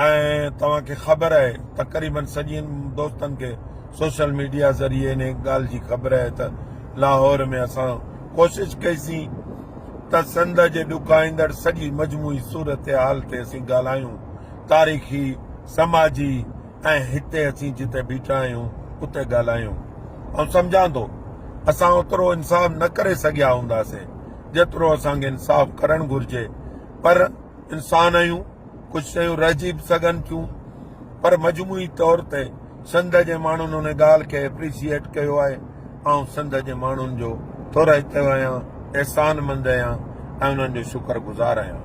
۽ توهان کي خبر آهي تقريبن سڄين دوستن کي سوشل ميڊيا ذريعي انهي ڳالهه جي خبر آهي ته لاهور ۾ اسان ڪوشش ڪئي سين ته سنڌ جي ڏکائيندڙ سڄي مجموعي صورتحال تي اسين ڳالهايون تاريخي سماجي ۽ هتي اسين جتي بيٺا آهيون اتي ڳالهايون آئون سمجهان ٿو اسان اوترو انصاف نه ڪري سگهيا هونداسين جيترو اسان کي انصاف ڪرڻ گهرجي پر انسان آهيون، ڪجهه شيون رهجي به سگهن ٿيون پر مجموعي طور تي سنڌ جي ماڻهن ان ڳالهه کي اپريشيئيٽ ڪيو آهي. آئون سنڌ جي ماڻهن جو ٿورائتو آهيان، احسان مند آهيان ۽ انهن جو شڪر گذار آهيان.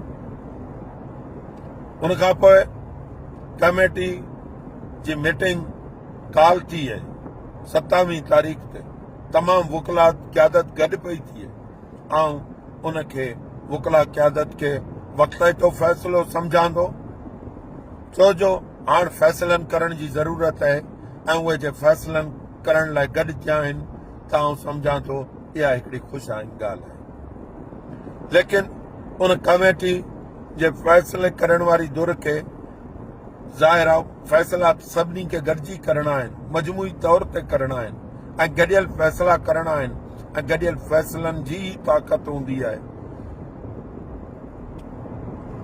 ان کان پوء ڪميٽي جي ميٽنگ ڪال ٿي اهي، ستاويهه تاريخ تي تمام وڪلا قيادت گڏ پئي ٿي اهي، آئون ان کي وڪلا قيادت کي وقتائتو فيصلو سمجهان ٿو ڇو جو هاڻ فيصلن ڪرڻ جي ضرورت آهي ۽ اهي جي فيصلن ڪرڻ لاء گڏجيا آهن ته آئون سمجهان ٿو اها هڪڙي خوش آئين ڳالهه آهي ليڪن ان ڪميٽي جي فيصلي ڪرڻ واري دور کي ظاهر فيصلات سڀني کي گڏجي ڪرڻا آهن مجموعي طور تي ڪرڻا آهن ۽ گڏيل فيصلا ڪرڻا آهن ۽ گڏيل فيصلن جي ئي طاقت هوندي آهي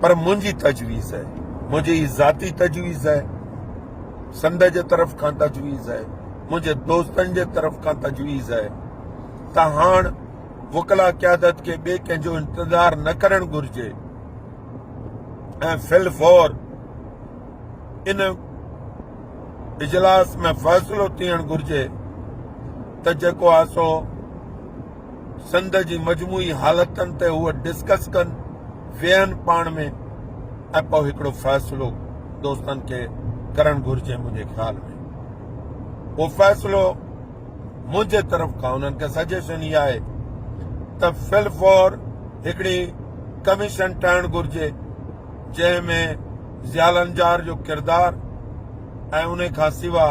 پر منهنجي تجويز آهي منهنجي هي ذاتي تجويز آهي سنڌ جي طرف کان تجويز آهي منهنجي دوستن جي طرف کان تجويز آهي ته هاڻ وڪلا قيادت کي ٻئي ڪنهن جو انتظار نه ڪرڻ گهرجي ۽ فل فور ان اجلاس ۾ فيصلو ٿيڻ گهرجي ته جيڪو آهي سو سنڌ جي مجموعي حالتن تي هو ڊسڪس ڪن ويهن پاڻ ۾ ۽ پوء هڪڙو فيصلو دوستن کي ڪرڻ گهرجي منهنجي خيال ۾ اهو فيصلو منهنجي طرف کان انهن کي سجيشن اها آهي ته فل فور هڪڙي ڪميشن ٺهڻ گهرجي جنهن ۾ ضياء لنجار جو ڪردار ۽ انهي کان سوا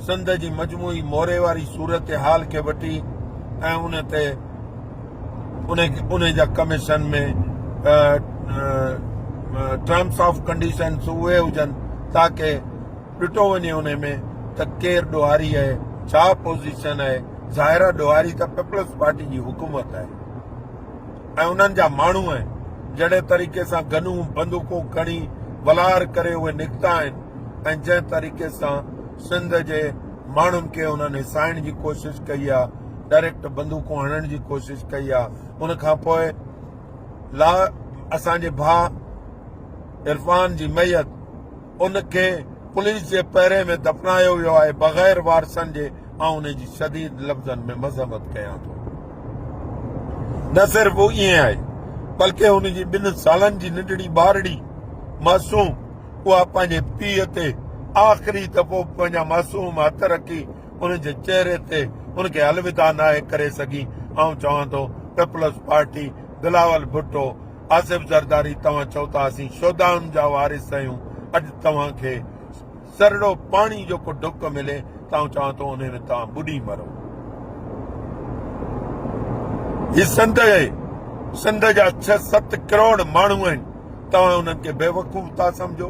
سنڌ جي مجموعي موري واري صورتحال کي وٺي ۽ ان تي انهي جا ڪميشن ۾ ٽرمس آف ڪنڊيشنس اهي هجن تاڪه ڏٺو وڃي انهي ۾ ته ڪير ڏوهاري آهي ڇا پوزيشن آهي ظاهر آهي ڏوهاري ته پيپلز پارٽي جي حڪومت آهي ۽ انهن جا ماڻهو ۽ جهڙي طريقي سان گنون بندوقون کڻي ولار ڪري اهي نڪتا آهن ۽ جنهن طريقي سان سنڌ جي ماڻهن کي انهن هيسائڻ جي ڪوشش ڪئي آ ڊائريڪٽ بندوقون هڻڻ جي ڪوشش ڪئي آ ان کان پوء لا اسان جي ڀاء عرفان جي ميت ان کي پوليس جي پهري ۾ دفنايو ويو آهي بغير وارثن جي آئون ان جي شديد لفظن ۾ مذمت ڪيان ٿو نه صرف ائين آهي بلڪه ان جي ٻن سالن جي ننڍڙي ٻارڙي معصوم اها پنهنجي پيء تي آخري دفعو پنهنجا معصوم هٿ رکي ان جي چهري تي ان کي الوداع ناهي ڪري سگهي آئون چوان ٿو پيپلز پارٽي بلاول ڀٽو آصف زرداري توهان چئو ٿا اسين شھدائن جا وارث آھيون اڄ توهان کي سرڙو پاڻي جو ڪو ڍڪ ملي ته آئون چوان ٿو انهي ۾ توهان ٻڏي مرو هي سنڌ آهي سنڌ جا ڇهه ست ڪروڙ ماڻهو آهن توهان انهن کي بيوقوف ٿا سمجهو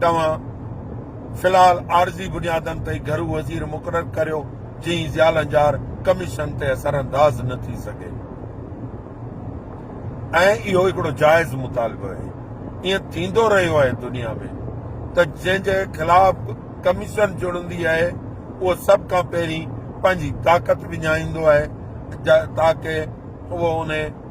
توهان في الحال عارضي بنيادن تي گهرو وزير مقرر ڪريو جئين زيالنجار ڪميشن تي اثرانداز نه ٿي سگهي ۽ اهو هڪڙو جائز مطالبو آهي ائين ٿيندو رهيو آهي دنيا ۾ ته جنهن جي خلاف ڪميشن جڙندي آهي اهو سڀ کان پهرين پنهنجي طاقت وڃائيندو آهي تاڪه اهو ان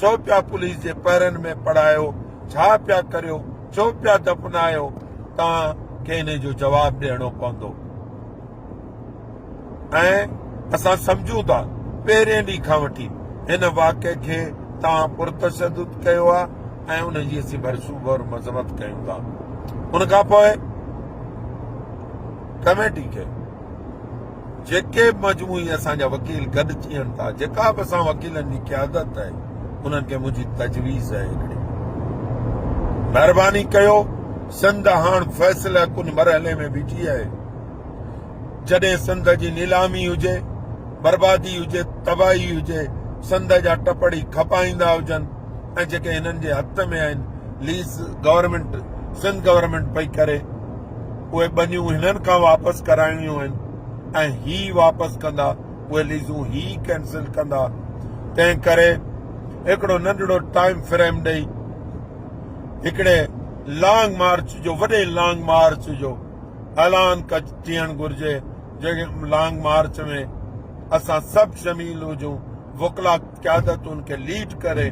ڇو پيا پوليس جي پهرن ۾ پڙهايو ڇا پيا ڪريو ڇو پيا دفنايو توهان کي انهي جو جواب ڏيڻو پوندو ۽ اسان سمجهون ٿا پهرين ڏينهن کان وٺي هن واقعي کي توهان پرتشدد ڪيو آهي ۽ ان جي اسين ڀرسوب اور مذمت ڪيون ٿا ان کان پوء ڪميٽي کي جيڪي به مجموعي اسان جا وڪيل گڏ ٿين ٿا، جيڪا به اسان وڪيلن جي قيادت آهي، انهن کي منهنجي تجويز آهي هڪڙي. مهرباني ڪيو، سنڌ هاڻ فيصله ڪن مرحلي ۾ بيٺي آهي. جڏهن سنڌ جي نيلامي هجي، بربادي هجي، تباهي هجي، سنڌ جا ٽپڙي کپائيندا هجن ۽ جيڪي هنن جي هٿ ۾ آهن، ليز گورنمينٽ، سنڌ گورنمينٽ پئي ڪري. اهي ٻنيون هنن کان واپس ڪرائڻيون آهن ۽ هي واپس ڪندا، اهي ليزون هي ڪينسل ڪندا، تنهن ڪري هڪڙو ننڍڙو ٽائيم فريم ڏئي هڪڙي لانگ مارچ جو وڏي لانگ مارچ جو اعلان ڪج ٿيڻ گهرجي جنهن لانگ مارچ ۾ اسان سڀ شميل هجون وڪلا قيادت ان کي ليڊ ڪري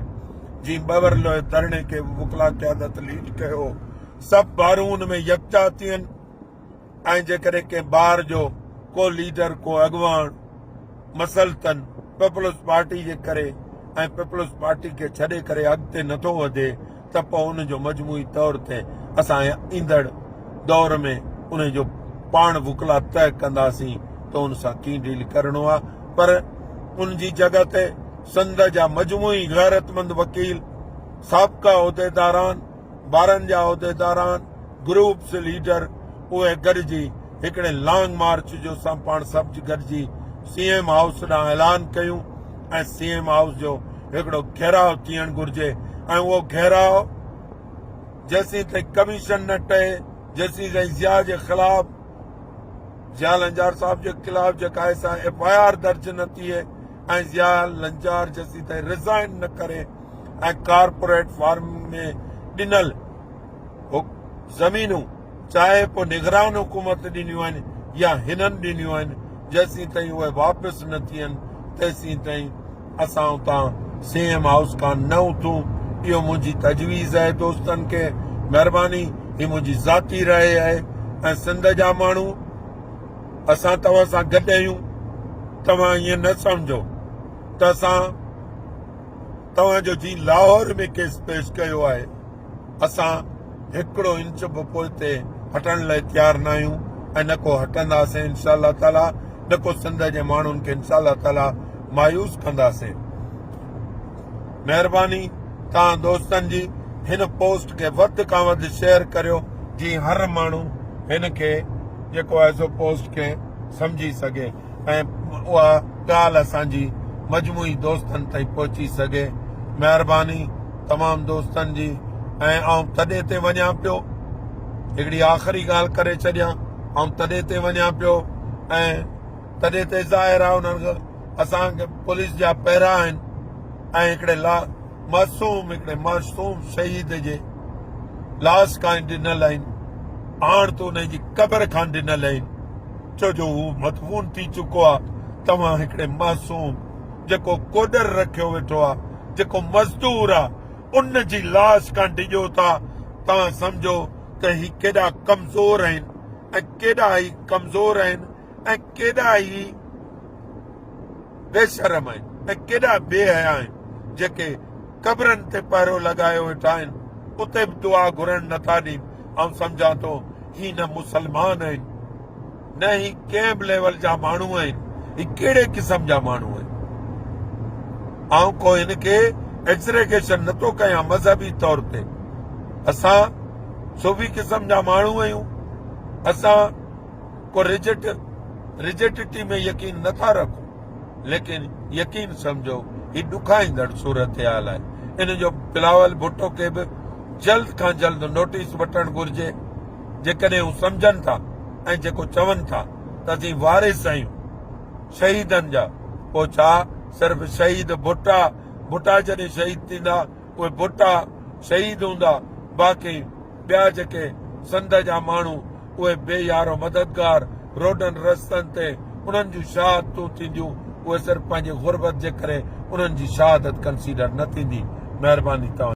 جي ٻه ورلوء ڌرڻي کي وڪلا قيادت ليڊ ڪيو سڀ ٻارون ان ۾ يڪجا ٿين ۽ جيڪڏهن ڪنهن ٻار جو ڪو ليڊر ڪو اڳواڻ مسلطن پيپلز پارٽي جي ڪري ۽ پيپلز پارٽي کي ڇڏي ڪري اڳتي نٿو وڌي ته پوء ان جو مجموعي طور تي اسان ايندڙ دور ۾ ان جو پاڻ وڪلا طئي ڪنداسين ته ان سان ڪيئن ڊيل ڪرڻو آهي پر ان جي جڳھ تي سنڌ جا مجموعي غيرتمند وڪيل سابقا عهديداران ٻارن جا عهديداران، گروپس ليڊر اهي گڏجي هڪڙي لانگ مارچ جو سان پاڻ سڀ گڏجي سي ايم هائوس ڏانهن اعلان ڪيون ۽ سي ايم هائوس جو هڪڙو گهيراء ٿيڻ گهرجي ۽ اهو گهيراء جيسين تائين ڪميشن نه ٽهي جيسين تائين ضياء جي خلاف ضياء لنجار صاحب جي خلاف جيڪا ايف آء آر درج نه ٿئي ۽ ضياء لنجار جسي تائين رزائن نه ڪري ۽ ڪارپوريٽ فارمنگ ۾ ڏنل زمينون چاهي پوء نگران حڪومت ڏنيون آهن يا هنن ڏنيون آهن جيسين تائين اهي واپس نه ٿين تيسين تائين اسان اتان سي ايم هائوس کان نه اٿون اهو منهنجي تجويز آهي دوستن کي مهرباني هي منهنجي ذاتي راء آهي ۽ سنڌ جا ماڻهو اسان توهان سان گڏ آهيون، توهان ائين نه سمجهو ته اسان توهان جو جي لاهور ۾ ڪيس پيش ڪيو آهي، اسان هڪڙو انچ به پوئتي هٽڻ لاء تيار نه آهيون ۽ نه ڪو هٽنداسين انشاء الله تعاليٰ نه ڪو سنڌ جي ماڻهن کي انشاء الله تعاليٰ مايوس ڪنداسين. مهرباني توهان دوستن جي هن پوسٽ کي وڌ کان وڌ شيئر ڪريو جي هر ماڻهو هن کي جيڪو آهي سو پوسٽ کي سمجهي سگهي ۽ اها ڳالهه اسان جي مجموعي دوستن تائين پهچي سگهي مهرباني تمام دوستن جي ۽ آئون تڏي تي وڃا پيو هڪڙي آخري ڳالهه ڪري ڇڏيان آئون تڏي تي وڃا پيو ۽ تڏهن ته ظاهر آهي انهن کي اسان کي پوليس جا پهرا آهن ۽ هڪڙي لا معصوم هڪڙي معصوم شهيد جي لاش کان ڊنل آهن آڻ ته انهي جي قبر کان ڊنل آهن ڇو جو هو مدفون ٿي چڪو آهي توهان هڪڙي معصوم جيڪو ڪوڏر رکيو ويٺو آهي جيڪو مزدور آهي ان جي لاش کان ڊڄو ٿا توهان سمجهو ته هي ڪيڏا ڪمزور آهن ۽ ڪيڏا هي ڪمزور آهن ۽ ڪيڏا ئي بي شرم آهن ۽ ڪيڏا بي حيا آهن جيڪي قبرن تي پهرو لڳايو ويٺا آهن اتي به دعا گهرڻ نٿا ڏين آئون سمجهان ٿو هي نه مسلمان آهن نه هي ڪنهن به ليول جا ماڻهو آهن هي ڪهڙي قسم جا ماڻهو آهن آئون کو هن کي ايگزريگيشن نٿو ڪيان مذهبي طور تي اسان صوفي قسم جا ماڻهو آهيون اسان ڪو رجٽ رجٽٽي ۾ يقين نه ٿا رکون ليڪن يقين سمجھو هي ڏکائيندڙ صورتحال آهي ان جو بلاول ڀٽو کي به جلد کان جلد نوٽيس وٺڻ گهرجي جيڪڏهن هو سمجھن ٿا ۽ جيڪو چون ٿا ته اسين وارث آهيون شهيدن جا پوء ڇا صرف شهيد ڀٽا ڀٽا جڏهن شهيد ٿيندا اهي ڀٽا شهيد هوندا باقي ٻيا جيڪي سنڌ جا ماڻهو اهي بي يارو مددگار روڊن رستن تي انهن جون شهادتون ٿينديون اهي صرف پنهنجي غربت جي ڪري انهن جي شهادت ڪنسيڊر نه ٿيندي مهرباني توهان